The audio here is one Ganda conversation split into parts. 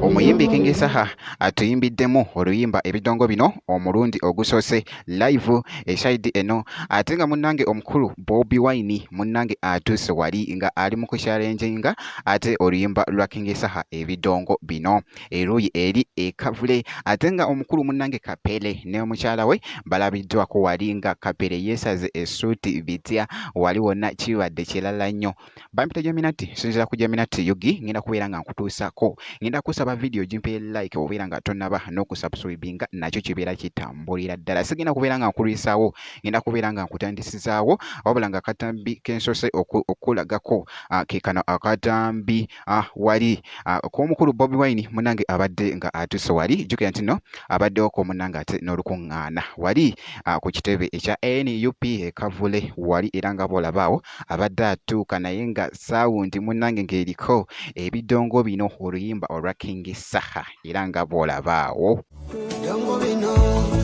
omuyimbi King Saha atuyimbiddemu oluyimba ebidongo bino omulundi ogusoose live esayidi eno ate nga munnange omukulu Bobi Wine munnange atuuse wali nga ali mu kushalenjinga ate oluyimba lwa King Saha ebidongo bino eruuyi eri ekavule ate nga omukulu munange kapere ne omukyala we balabiddwako wali nga kapere yeesaze esuuti bitya wali wonna kibadde kirala nnyo bampita jaminati sinzira ku jaminati yugi ngenda kubeera nga nkutuusako ngenda kusaba vidiyo gimpeye like obeera nga tonaba n'okusubscribinga nakyo kibeera kitambulira ddala sigenda kubeera nga nkulwisaawo ngenda kubeera nga nkutandisizaawo wabula nga akatambi kensose okulagako ah, kekano akatambi ah, wali ah, kw'omukulu Bobi Wine munange abadde nga atuuse wali jjukira nti no abaddewo ko munange ate n'olukuŋŋaana wali ah, ku kitebe ekya nup ekavule wali era nga bw'olabaawo abadde atuuka naye nga saawundi munange ng'eriko ebidongo bino oluyimba olwa King Saha era nga bw'olabaawo bidongo bino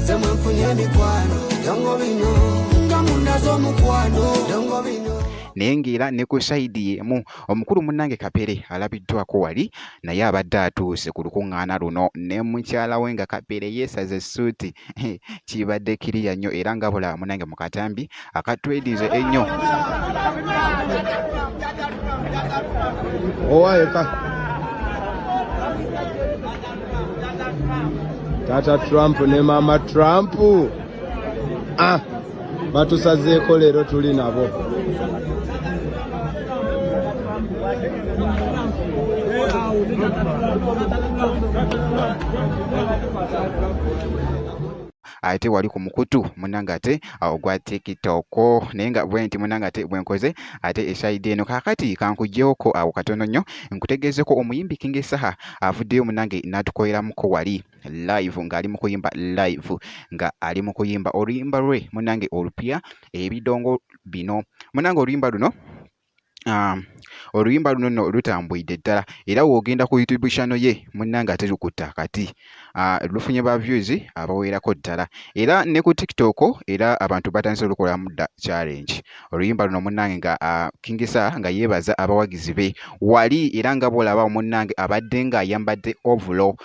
semwe mfunye emikwano bidongo bino nga mundazo omukwano bidongo bino naye ng'era ne ku sayidi y'emu Omukulu munnange Kapere alabiddwako wali naye abadde atuuse ku lukuŋŋaana luno ne mukyala we nga Kapere yeesaze essuuti. Kibadde kiriya nnyo era nga bulaba munnange mu katambi akatwedize ennyo. Taata Trump ne maama Trump. Ah. batusazeeko leero tuli nabo ate wali ku mukutu munange ate ogwa tiktok naye nga bwe nti munange ate bwe nkoze ate eshayidi eno kaakati kankuggyewoko awo katono nnyo nkutegeezeko omuyimbi kingi saha avuddeyo munange n'atukoleramuko wali live nga ali mukuyimba live nga ali mukuyimba oluyimba lwe munange olupya ebidongo bino munange oluyimba luno um, oluyimba luno no lutambwidde ddala era wogenda ku youtube channel ye munange ate lukutta kati uh, lufunye ba views abawerako ddala era ne ku tiktok era abantu batandise olukolamu dda challenge oluyimba luno munange nga uh, kingisa nga yebaza abawagizi be wali era nga bwolaba munange abadde nga ayambadde ovulo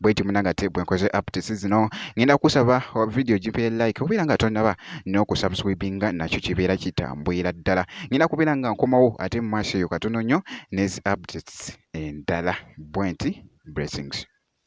bweti munangate bwenkoze updates zino ngenda kusaba video gipere like obeera nga tonaba n'okusubscribinga nakyo kibeera kitambwira ddala ngenda kubeera nga nkomawo ate mu maaso eyo katono nnyo nezi updates endala bwenti blessings